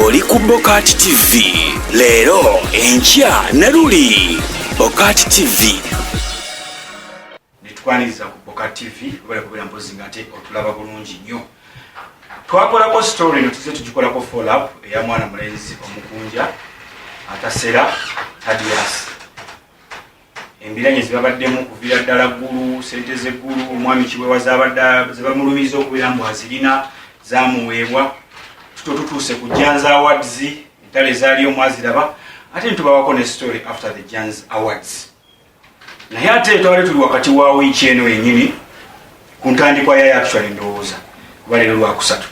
oli ku bokati tv leero enkya ne luli bokati tv netwaniriza ku bokati tv obala kubeera mpozi nga ate otulaba bulungi nnyo twakolako story no tuze tugikolako follup eya mwana mulenzi omukunja atasera tadiasi embiranye zibabaddemu okuvira ddala ggulu sente zeggulu omwami kiwewa zabadde zebamulumiza okubeera mbu azirina zamuweebwa tuto tutuuse ku jans awards entale ezaali omwaziraba ate nitubawako ne story after the jans awards naye ate twali tuli wakati wa wiiki eno yenyini ku ntandikwa yayo actually ndowooza kuba leero lwakusatu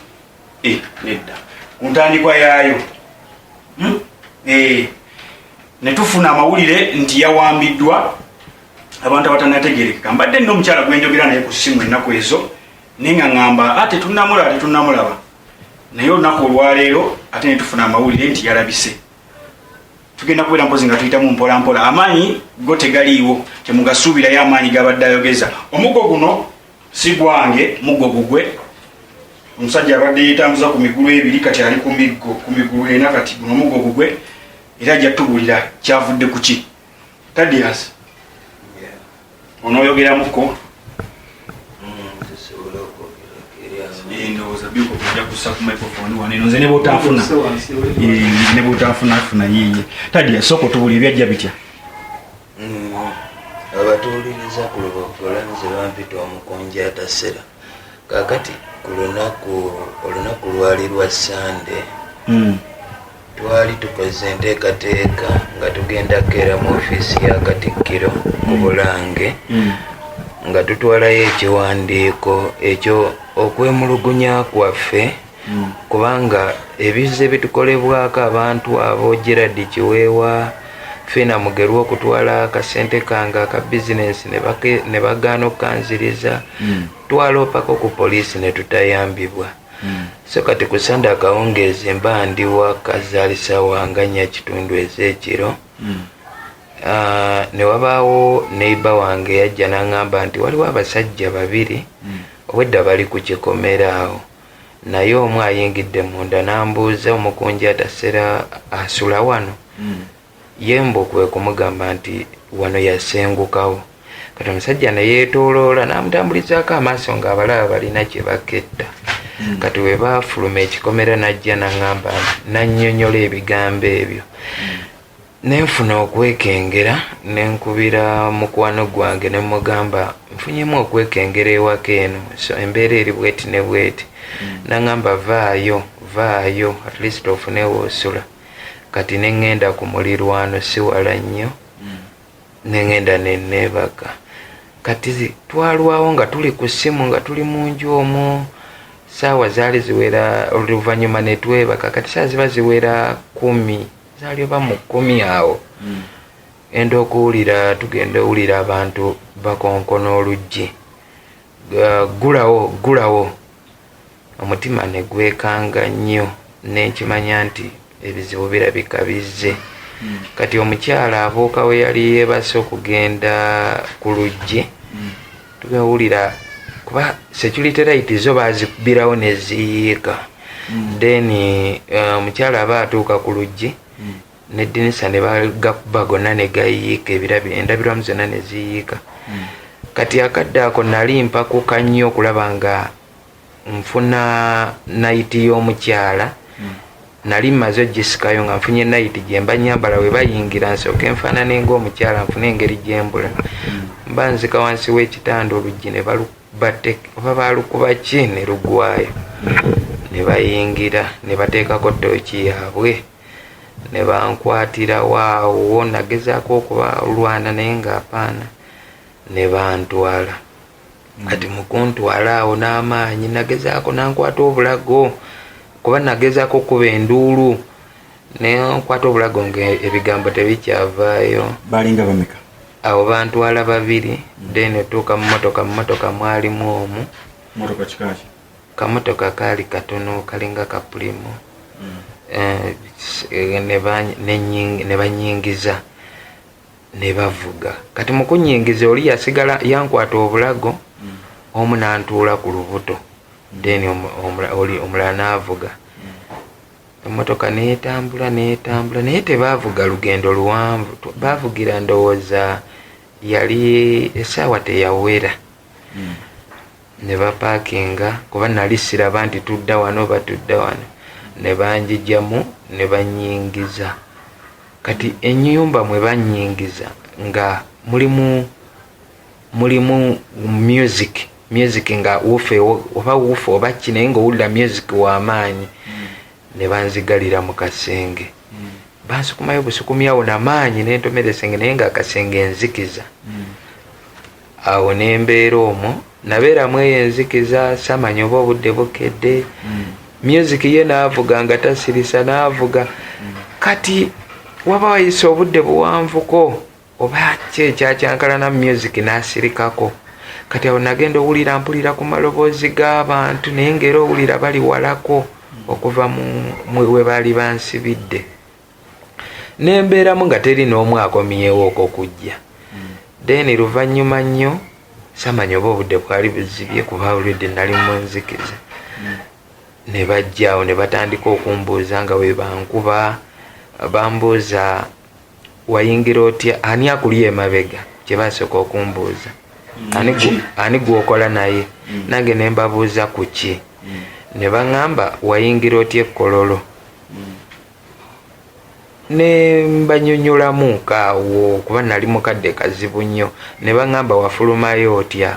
eh, nedda ku ntandikwa yaayo hmm? eh. ne tufuna amawulire nti yawambiddwa abantu abatanategerekeka mbadde nina omukyala gwenjogera naye ku simu ennaku ezo naye nga ŋamba a ah, tetunamulaba tetunamulaba naye olunaku olwaleero ate ne tufuna amawulire nti yalabise tugenda kubeera mpozi nga tuyitamu mpola mpola amaanyi go tegaliiwo temugasuubirayo amaanyi gabadde ayogeza omugo guno si gwange mugo gugwe omusajja abadde yetambuza ku migulu ebiri kati ali ku miggo ku migulu ena kati guno omugo gugwe era ajja tubulira kyavudde kuki tadias onoyogeramuko endowooza byokuja kusa ku microphone wano eno nze nebwotafuna nebwotafuna funa yiye tadias sooka otubulira ebyajja bitya abatuwuliriza ku luboggola nze bampita omukunja atasera kakati ku lunaku olunaku lwali lwa sande hmm. twali tukoze enteekateeka nga tugenda kukeera mu ofiisi ya katikkiro mu hmm. bulange hmm. nga tutwalayo ekiwandiiko ekyo okwemulugunya kwaffe hmm. kubanga ebizza ebitukolebwako abantu abo gerard kiweewa fina mugerwa okutwala akasente kange aka bizinensi ne bagaana okukanziriza hmm. twaloopako ku poliisi ne tutayambibwa hmm. so kati ku sande akawungeezi mba ndi wakazaalisa wanganya kitundu ez'ekiro Ah, ne wabaawo neiba wange yajja n'aŋŋamba nti waliwo abasajja babiri hmm. obwedda bali ku kikomera awo naye omu ayingidde munda n'ambuuza omukunjaata sera asula wano hmm. ye mbu kwe kumugamba nti wano yasengukawo kati omusajja ne yeetooloola n'amutambulizaako amaaso ng'abalaba balina kye baketta hmm. kati we baafuluma ekikomera n'ajja n'aŋamba nannyonnyola ebigambo ebyo hmm. Nenfuna okwekengera nenkubira mukwano gwange nemugamba nfunyemu okwekengera ewaka eno so embeera eri bweti ne bweti mm. nangamba vaayo vaayo at least ofune woosula kati nengenda ku mulirwano siwala nnyo mm. nengenda neneebaka kati twalwawo nga tuli ku ssimu nga tuli mu nju omwo saawa zaali ziwera oluvannyuma netwebaka kati saa ziba ziwera kumi zali oba mu kkumi awo hmm. enda okuwulira tugenda owulira abantu bakonkona oluggi gulawo gulawo omutima ne gwekanga nnyo nenkimanya nti ebizibu birabika bizze hmm. kati omukyala abuuka we yali yeebase okugenda ku luggi hmm. tugawulira kuba security light zo bazikubirawo neziyiika mm. then eh, omukyala uh, aba atuuka ku luggi mm. nedinisa nebagakuba gonna negayiika ebirabi endabirwamu zonna neziyiika mm. kati akadde ako nali mpakuka nnyo okulaba nga nfuna nayiti y'omukyala hmm. nali mmaze ogisikayo nga nfunye nayiti gyemba nyambala we bayingira nsooka enfaanana enga omukyala nfuna engeri gyembula hmm. mba nzika wansi w'ekitanda oluggi ne balubate oba baalukuba ki ne lugwayo hmm. ne bayingira ne bateekako tooki yaabwe ne bankwatira waawo nagezaako okubalwana naye ng'apaana ne bantwala kati mukuntwala awo n'amaanyi nagezaako nankwata obulago kuba nagezaako okukuba enduulu naye nkwata obulago nga ebigambo tebikyavaayo balinga bameka awo bantwala babiri then otuuka mu motoka mu motoka mwalimu omu motoka kikaki kamotoka kaali katono kalinga kapulimo mm. eh, eh, ne banyingiza ne bavuga kati mu kunnyingiza oli yasigala yankwata obulago omu n'antuula ku lubuto then omulala n'avuga emmotoka n'etambula n'etambula naye tebaavuga lugendo luwanvu baavugira ndowooza yali essaawa teyawera hmm. ne bapaakinga kuba nali siraba nti tudda wano oba tudda wano ne banjijamu ne bannyingiza kati ennyumba mwe bannyingiza nga mulimu mulimu music music nga wufa oba wufa oba ki naye ngaowulira music wamaanyi ne banzigalira mu kasenge bansikumayo busukumyawo namaanyi nentomera esenge naye nga akasenge enzikiza awo nembeera omwo nabeera mu eyo enzikiza samanya oba obudde bukedde mm. music ye naavuga nga tasirisa naavuga mm. kati waba wayise obudde buwanvuko oba ki ekyakyankalana mu music naasirikako kati awo nagenda owulira mpulira ku maloboozi g'abantu naye ngaera owulira bali walako mm. okuva webaali bansibidde nembeeramu nga teri n'omu akomyewo okokujja then luvannyuma nnyo samanya oba obudde bwali buzibye kuba already nali munzikiza ne bajjaawo ne batandika okumbuuza nga bwe bankuba bambuuza wayingira otya ani akuli emabega kye basooka okumbuuza ani gwokola naye mm. nange ne mbabuuza ku ki mm. ne baŋŋamba wayingira otya ekkololo ne mbanyonyolamu kaawo kuba nali mukadde kazibu nnyo ne baŋŋamba wafulumayo otya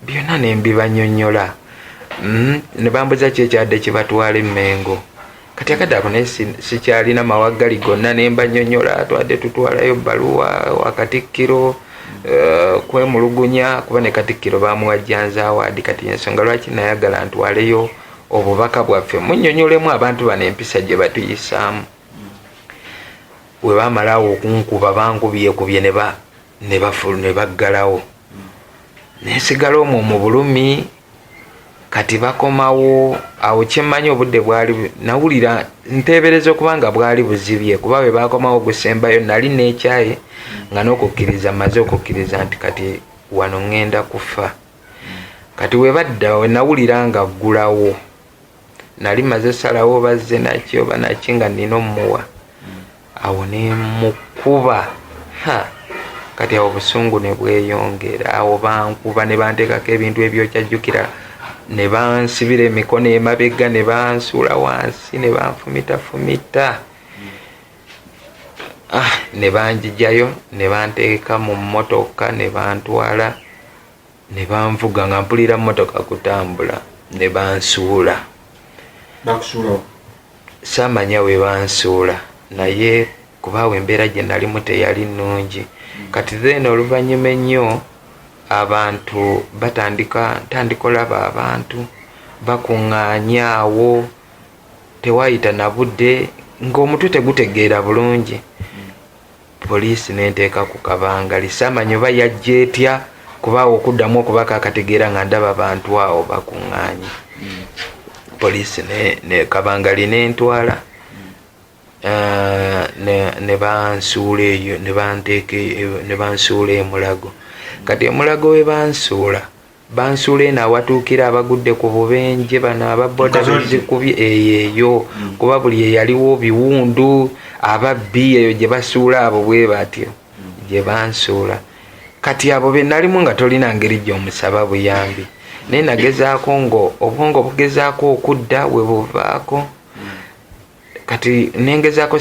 byonna ne mbibanyonyola mm, ne bambuza ki ekyadde kibatwala emmengo kati akadde ako naye sikyalina mawaggali gonna ne mbanyonyola twadde tutwalayo bbaluwa wakatikkiro eh, kwemulugunya kuba ne katikkiro bamuwajjanzaawaadi kati ensonga lwaki nayagala ntwaleyo obubaka bwaffe munyonyolemu abantu bano empisa gye batuyisaamu we bamalawo okunkuba bankubyekubye ne baggalawo nensigala omwo mu bulumi kati bakomawo awo kyemmanyi obudde bwali nawulira nteebereza okuba nga bwali buzibye kuba bwe bakomawo gusembayo nali neekyaye nga n'okukkiriza maze okukkiriza nti kati wano ŋŋenda kufa kati webadda wenawulira nga aggulawo nali maze salawo bazze naki oba naki nga nina omuwa awo nemukuba kati awo obusungu nebweyongera awo bankuba nebantekako ebintu ebyokyajjukira nebansibira emikono emabega nebansuula wansi nebanfumitafumita ah, ne banjijayo ne banteeka mu mmotoka ne bantwala ne banvuga nga mpulira mmotoka kutambula ne bansuula saamanya we bansuula naye kubaawo embeera gye nalimu teyali nnungi kati then oluvannyuma ennyo abantu batandika ntandika olaba abantu bakuŋŋaanyaawo Tewaayita na budde ng'omutwe tegutegeera bulungi, poliisi ne nteeka ku kabangali. Saamanya oba yajja etya kuba awo okuddamu okubaka akategeera nga ndaba bantu awo bakuŋŋaanye. Poliisi ne kabangali ne ntwala eh, ne bansuula eyo ne banteeka e, ne bansuula e Mulago. Kati e Mulago we bansuula bansuula eno awatuukira abagudde ku bubenje bano ababoda bezikubye eyo eyo mm. kuba buli eyaliwo biwundu ababbi eyo gye basuula abo bwe batyo mm. gye bansuula kati abo be nalimu nga tolina ngeri gy'omusaba buyambi naye nagezaako nga obwongo bugezaako okudda we buvaako kati nengezako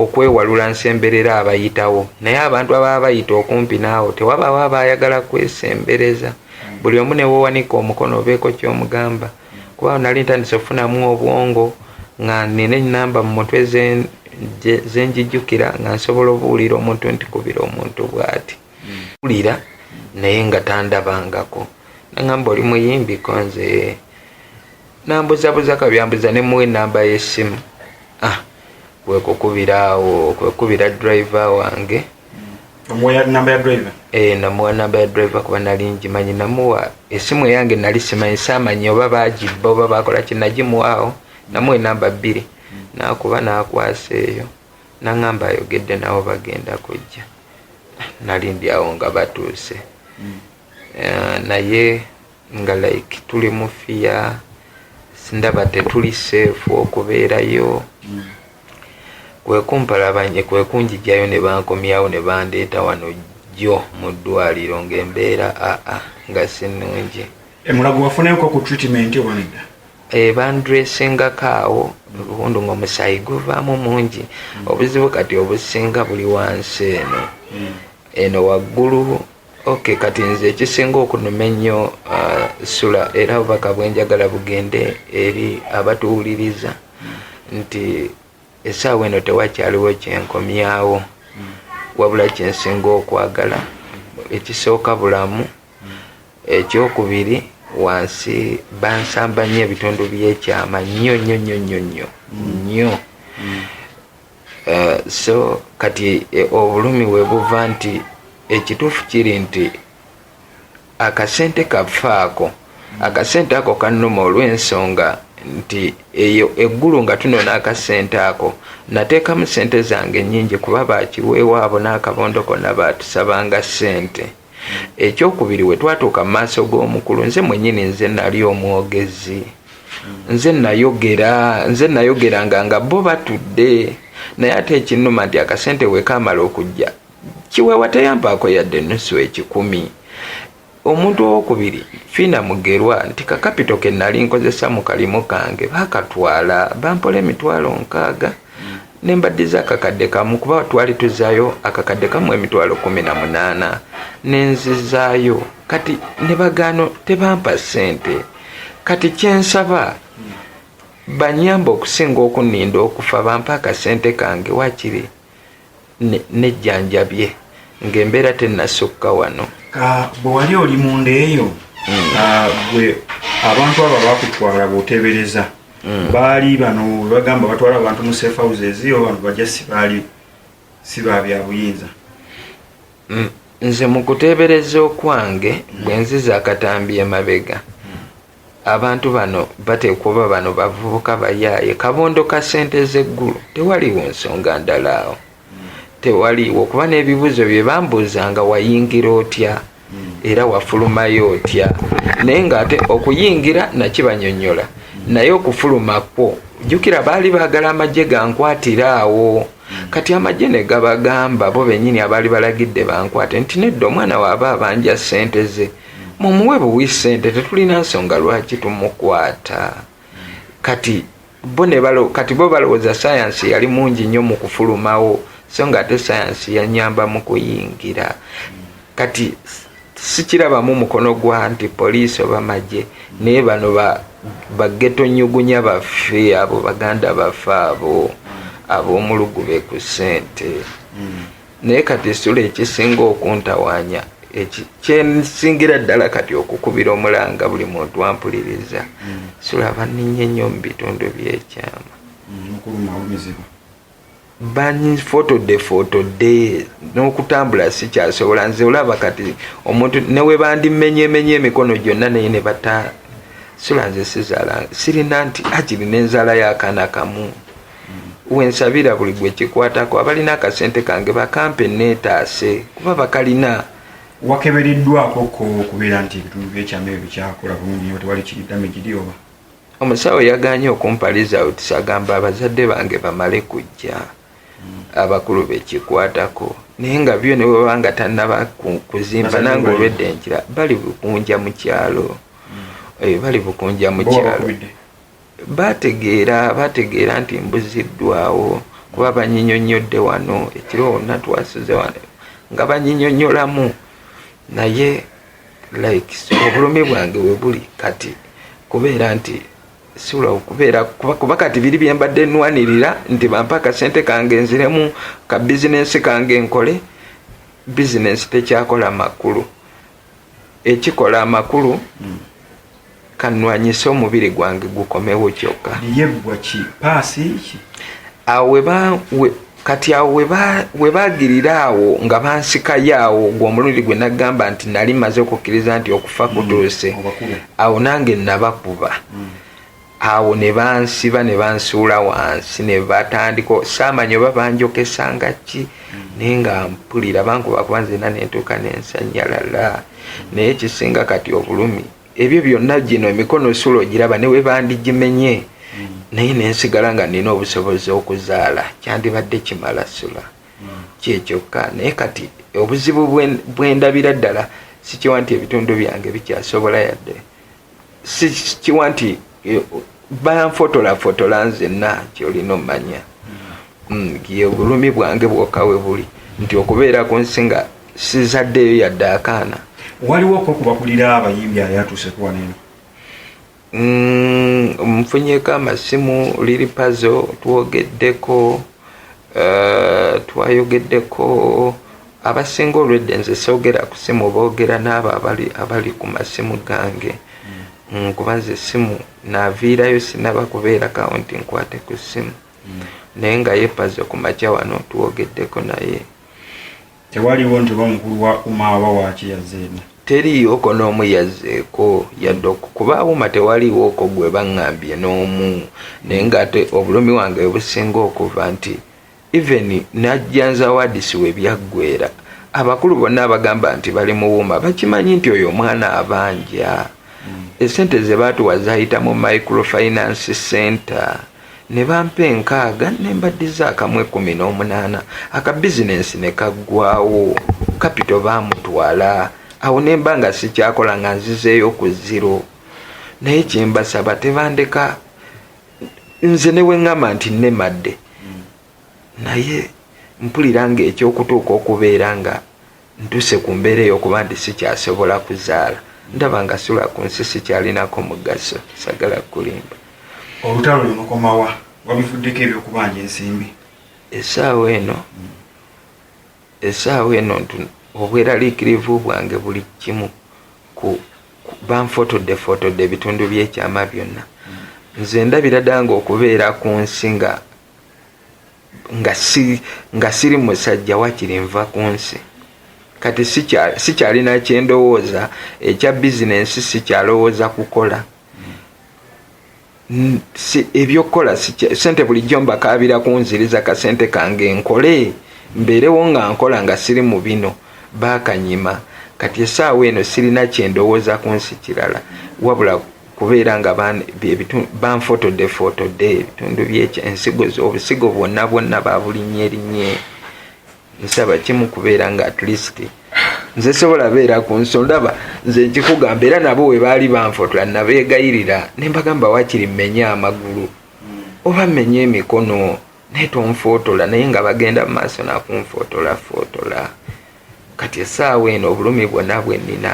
okwewalula nsemberera abayitawo naye abantu ababa bayita okumpi naawo tewabawo aba ayagala kwesembereza mm. buli omu newowanika omukono obeeko kyomugamba kuba nali ntandise okufunamu obwongo nga nina enamba mu mutwe zenjijukira nga nsobola obuwulira omuntu ntikubira omuntu bwati mm. wulira naye nga tandabangako nangamba oli muyimbi konze nambuzabuza kabyambuza ne muwe namba yesimu ah kwekukubira awo kwekubira driver wange namuwa namba ya driver eh, kuba nali ngimanyi namuwa esimu eyange nali simanyi samanyi oba bagibba oba bakola kinagimuwaawo namuwa enamba bbiri nakuba nakwasa eyo naŋamba ayogedde nawo bagenda kujja nali ndi awo nga batuuse hmm. eh, naye nga like tuli mu fiya ndaba tetuli seefu okubeerayo mm. kwekumpalabanye kwekunjijayo ne bankomyawo ne bandeeta wano jjo mu ddwaliro ng'embeera aa nga si nnungi emulago wafunayoko ku treatment obanedda Eh, bandresingako awo obundi nga omusaayi guvaamu mungi obuzibu kati obusinga buli wansi eno hmm. eno waggulu ok kati nze ekisinga okunuma ennyo uh, sula era obubaka bwenjagala bugende eri abatuwuliriza nti esaawa eno tewakyaliwo kyenkomyawo wabula kyensinga okwagala ekisooka bulamu ekyokubiri wansi bansamba nnyo ebitundu byekyama nnyo nnyo nnyo nnyo nnyo nnyo Eh, so kati eh, obulumi webuva nti ekituufu kiri nti akasente kafaako akasente ako kanuma olwensonga nti eyo eggulu nga tunona akasente ako nateekamu sente zange nyingi kuba bakiweewo abo n'akabondo konna baatusabanga sente Ekyokubiri, bwe twatuuka mu maaso g'omukulu, nze mwennyini nze nnali omwogezi. Nze nnayogera, nze nnayogeranga nga bo batudde. Naye ate ekinnuma nti akasente bwe kaamala okujja, Kiweewa teyampaako yadde ennusu ekikumi. Omuntu owookubiri, Fiina Mugerwa, nti kakapito ke nnali nkozesa mu kalimu kange baakatwala, bampola emitwalo nkaaga. nembaddiza akakadde kamu kuba twali tuzayo akakadde kamu emitwalo kumi na munaana nenzizaayo kati nebagaano tebampa sente kati kyensaba banyamba okusinga okuninda okufa bampa akasente kange wakiri nejjanjabye ng'embeera tennasukka wano bwe wali oli munda eyo hmm. gwe abantu abo abakutwala bwotebereza hmm. baali bano webagamba batwala abantu mu safe houses o bantu bajja sibaali si ba byabuyinza hmm. nze mu kuteebereza okwange bwe nziza akatambi emabega Abantu bano bateekwa oba bano bavubuka bayaaye kabondo ka sente zeggulu tewaliiwo nsonga ndala awo tewaliiwo kuba n'ebibuuzo bye bambuuza nga wayingira otya era wafulumayo otya naye ng'ate okuyingira nakibanyonyola naye okufuluma kwo jjukira baali baagala amagye gankwatire awo kati amagye ne gabagamba bo bennyini abaali balagidde bankwate nti nedda omwana waaba abanja sente ze mm. mumuwe buwi sente tetulina nsonga lwaki tumukwata kati bo nebalo kati bo balowooza sayansi yali mungi nnyo mu kufulumawo so nga ate sayansi yanyamba mu kuyingira kati sikirabamu mukono gwa nti poliisi oba magye naye bano bageto nyugunya baffe abo baganda baffe abo ab'omulugu be ku ssente mm. naye kati esula ekisinga okuntawanya kyensingira ddala kati okukubira omulanga buli muntu ampuliriza mm. sula baninye nnyo mu bitundu byekyama mm, banfotode fotode n'okutambula sikyasobola nze olaba kati omuntu newebandimenyemenye emikono gyonna naye ne bata sula nze sizaala sirina nti ajiri n'enzaala y'akaana kamu wensabira buli gwe kikwatako abalina akasente kange bakampe neetaase kuba bakalina wakebereddwako ko okubeera nti ebitundu byekyama ebyo bikyakola bulungi nyo tewali kiridame giri oba omusawo yaganye okumpa results agamba abazadde bange bamale kujja abakulu bekikwatako naye nga byo ne bwebaba nga tannaba kuzimba nange olwedde nkira bali bukunja mu kyalo hmm. eh, bali bukunja mu kyalo Baategeera baategeera nti mbuziddwawo kuba banyinyonnyodde wano ekiro wonna twasuze wano nga banyinyonnyolamu naye like obulumi bwange we buli kati kubeera nti sula okubeera kuba kati biri bye mbadde nnwanirira nti bampa akasente kange nziremu ka bizinensi kange nkole bizinensi tekyakola makulu ekikola amakulu mm. kanwanyise omubiri gwange gukomewo kyokka awo kati awo we bagirira awo nga bansikayo awo ogwo omulundi gwe nagamba nti nali maze okukkiriza nti okufa mm. kutuuse awo nange nabakuba mm. awo ne bansiba ne bansuula wansi ne batandika saamanya oba banjokesa nga ki mm. naye nga mpulira bankuba kuba nzina nentuuka nensanyalala naye kisinga kati obulumi ebyo byonna gino emikono suula ogiraba ne webandigimenye mm. naye nensigala nga nina obusobozi okuzaala kyandibadde kimala sula mm. kyekyokka naye kati obuzibu bwendabira ddala sikiwa nti ebitundu byange bikyasobola yadde sikiwa nti eh, banfotolafotola nzenna kyolina omanya mm, ye bulumi bwange bwoka we buli nti okubeera ku nsi nga sizaddeeyo yadde akaana waliwo kokubakulira abayimbi ayatuusekuwaneno mm, nfunyeko amasimu liri pazo twogeddeko eh, twayogeddeko abasinga olwedde nze sogera ku simu bogera n'abo abali abali ku masimu gange mm. kuba nze essimu naviirayo sinaba kubeera kawunti nkwate ku ssimu mm. naye nga yepaze ku makya wano tuwogeddeko naye tewaliwo nti oba mukulu wa uma aba waaki yazeemu teriiwoko n'omu yazzeeko yadde okukuba awuma tewaliiwoko gwe baŋŋambye n'omu naye ng'ate obulumi wange businga okuva nti Even najja nzawadisi we byaggwera abakulu bonna abagamba nti bali muwuma bakimanyi nti oyo omwana abanja hmm. esente zebaatuwa zayita mu microfinance center ne bampa enkaaga ne mbaddiza akamu ekumi n'omunaana aka bizinensi ne kaggwawo kapito baamutwala awo ne mba nga sikyakola nga nzizeeyo ku ziro naye kyembasaba tebandeka nze neweŋŋamba nti nnemadde naye mpulira ng'ekyokutuuka okubeera nga ntuse ku mbeera ey'okuba nti sikyasobola kuzaala ndaba nga sula ku nsi sikyalinako mugaso sagala kukulimba olutalo lunokomawa wabivuddeko ebyokubanja ensimbi esaawa eno Essaawa eno ntu obweraliikirivu bwange buli kimu ku banfotoddefootodde ebitundu by'ekyama byonna. Nze ndabira ddala ng'okubeera ku nsi nga nga siri musajja wakiri nva ku nsi kati sikyalina kyendowooza ekya bizinensi sikyalowooza kukola ebyokukola sente bulijjo mbakaabira kunziriza kasente kange nkole mbeerewo nga nkola nga siri mu bino baakanyima kati essaawa eno sirina kyendowooza ku nsi kirala wabula kubeera nga banfotodde fotodde ebitundu byensigo obusigo bwonna bwonna babulinnye linnye nsaba kimu kubeera nga at least nze sobola beera ku nso ndaba nze nkikugamba era nabo we baali banfotula nabeegayirira ne mbagamba wakiri mmenye amagulu oba mmenye emikono naye tonfootola naye nga bagenda mu maaso nakunfootola footola kati essaawa eno obulumi bwonna bwe nnina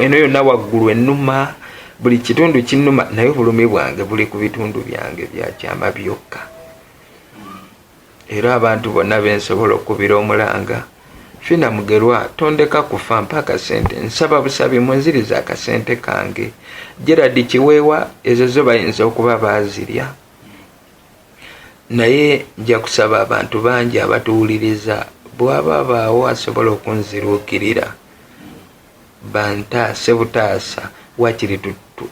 eno yonna waggulu ennuma buli kitundu kinnuma naye obulumi bwange buli ku bitundu byange byakyama byokka era abantu bonna bensobola okubira omulanga fina mugerwa tondeka kufa mpa akasente nsaba busabi munziriza akasente kange gerard kiweewa ezo zo bayinza okuba baazirya naye nja kusaba abantu bangi abatuwuliriza bwaba baawo asobola okunziruukirira Bantaase butaasa wakiri tu tu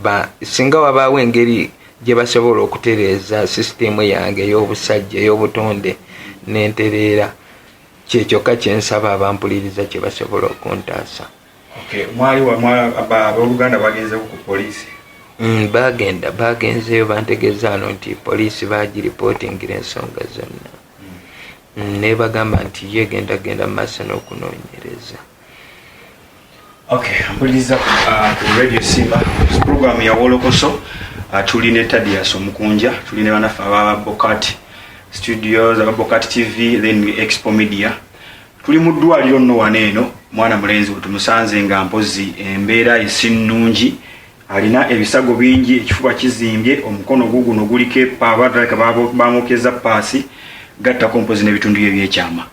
ba singa wabaawo engeri gye basobola okutereeza sisitiimu yange ey'obusajja ey'obutonde ne ntereera kye kyokka kye nsaba abampuliriza kye basobola okuntaasa. Okay, mwali wa mwa ba abooluganda bagenzeeko ku poliisi? Mm, baagenda baagenzeeyo bantegeeza wano nti poliisi baagiripootingira ensonga zonna. Mm. Mm, nebagamba nti ye genda genda mu maaso n'okunoonyereza. Okay, mpuliriza ku uh, radio Simba program ya Wolokoso uh, tuli ne Tadius Omukunja tuli ne banafa aba Bokati Studios aba Bokati TV then we Expo Media tuli mu ddwaliro nno wano eno mwana mulenzi we tumusanze nga mpozi embeera esinnungi alina ebisago bingi ekifuba kizimbye omukono guguno guliko epaaba bamukeza paasi gattako mpozi n'ebitundu bye byekyama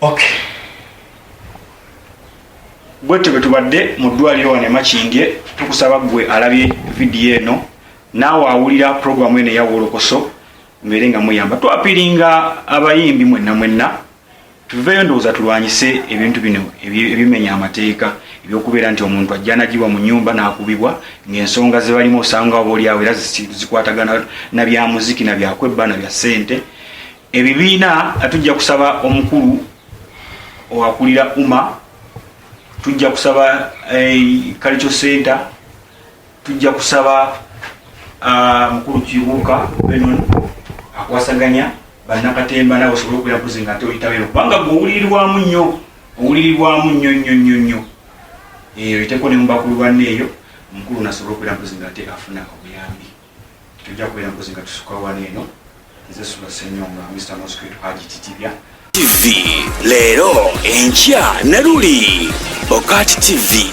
Okay. Bwetyo bwe tubadde mu ddwaliro wano emakindye tukusaba ggwe alabye vidiyo eno naawe awulira pulogulaamu eno eyawolokoso mubeere nga muyamba twapiringa abayimbi mwenna mwenna tuveeyo ndowooza tulwanyise ebintu bino ebimenya amateeka ebyokubeera nti omuntu ajja nagiwa mu nyumba nakubibwa ngaensonga zebalimu osanga oba olyawo era zikwatagana nabyamuziki nabyakwebba nabya ssente ebibiina nga tujja kusaba omukulu owakulira uma tujja kusaba eh, culture center tujja kusaba ah, mukulu kibuuka benon akwasaganya bannakatemba nawe osobole okubeera mpozi nga ate oyitabero kubanga gwe owulirirwamu nnyo owulirirwamu nnyo nnyo nnyo nnyo eyo eh, iteko ne mubakulu banne eyo omukulu nasobola okubeera mpozi nga ate afuna obuyambi tujja kubeera mpozi nga tusukawo wano eno nze sula senyonga mr mosquito haji titibya tv leero enkya ne luli bokati tv